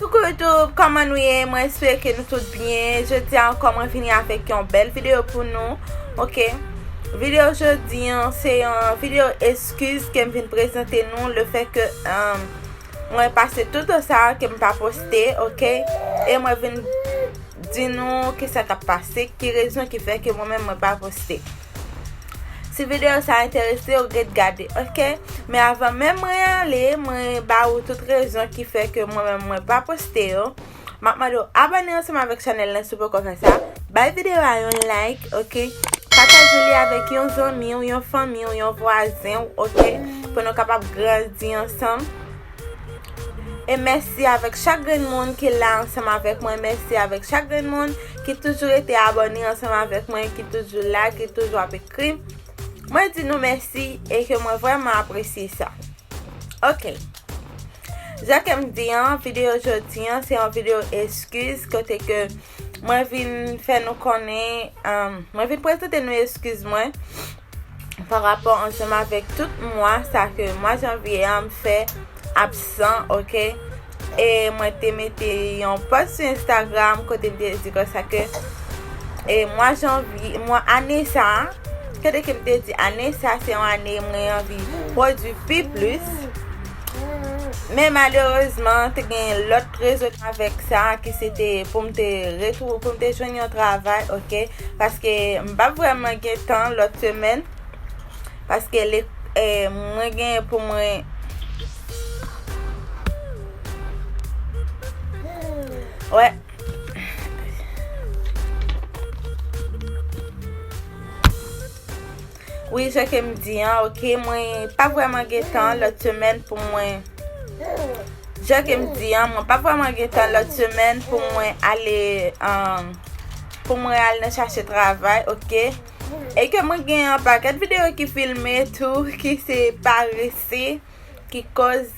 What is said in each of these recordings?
Coucou YouTube, kòman nou ye? Mwen espere ke nou tout byen. Jodi a ankò mwen vini avèk yon bèl videyo pou nou. Ok, videyo jodi an, se yon videyo eskiz ke m vin prezante nou le fè ke euh, mwen pase tout an sa ke m pa poste, ok? E mwen vin di nou ki sa k ap pase, ki rezon ki fè ke mwen menm mwen pa poste. Si video sa enterese w ret gade ok. Men avan menm mwen ale mwen ba ou tout rezon ki fè ke mwen menm mwen pa poste yo. Map mande w abone ansanm avèk chanèl lan si w poko fè sa. Bay video a yon like ok. Pataje li avèk yon zanmi w, yon fanmi w, yon vwazen w ok. Pou nou kapab grandi ansanm. E mèsi avèk chak grenn moun ki la ansanm avèk mwen, mèsi avèk chak grenn moun ki toujou rete abòne ansanm avèk mwen, ki toujou la, ki toujou ap ekri. Mwen di nou mèsi e ke mwen vreman apresye sa. Ok. Jan ke m di an, videyo jodi an se yon videyo eskiz kote ke... Mwen vin fè nou konnen, mwen vin prezante nou eskiz mwen pa rapò ansanm avèk tout mwa sa ke mwa janvye a m fè absan, ok? E mwen te mete yon post sou Instagram kote m te di kon sa ke e mwa janvye, mwa ane sa, kote ke m te di ane sa se yon ane mwen anvi pwodui pi plis. Men malerezman, te gen lòt rezonavèk sa ki se te pou m te retou, pou m te jwenn yon travay, ok? Paske m pa vreman gen tan lòt semen, paske le, e, mwen gen pou mwen... Wè. Wi jan kem di an ok mwen pa vreman gen tan lot semèn pou mwen Jan kem di an mwen pa vreman gen tan lot semèn pou mwen ale an pou mwen al nan chache travay ok e ke mwen gen an paket video ki filme tou ki se parese ki koz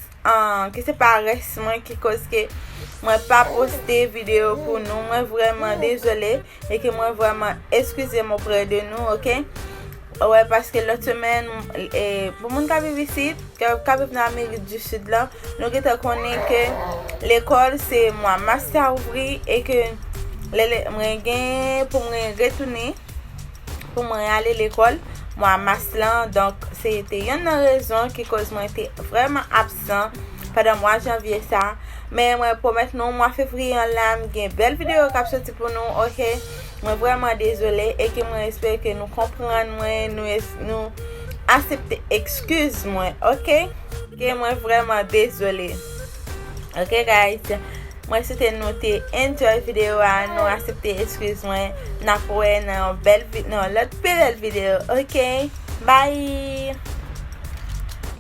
ki se pa res mwen ki koz ke mwen pa poste video pou nou mwen vreman dezole e ke mwen vreman eskize mwen pre de nou ok wè paske lot semen e pou moun ka vivi si ka vivi nan amerik di sud la nou ki te konen ke lekol se mwa mas ka ouvri e ke mwen gen pou mwen retounen Pou mwen ale lekòl mwa mas lan, donk se te yonn nan rezon ki koz mwen te vrèman absan pandan mwa janvye sa, men mwen pwomèt nou mwa fevriye an la m gen bèl videyo kap soti pou nou ok, mwen vrèman dezole e ke mwen espere ke nou konprann mwen, nou asepte ekskiz mwen ok. Ke mwen vrèman dezole. Ok guys Mwen swete nou te enjoy video a Nou asepte eskiz mwen Nap wè nan yon bèl Nan yon lòt pi bèl video ok Bye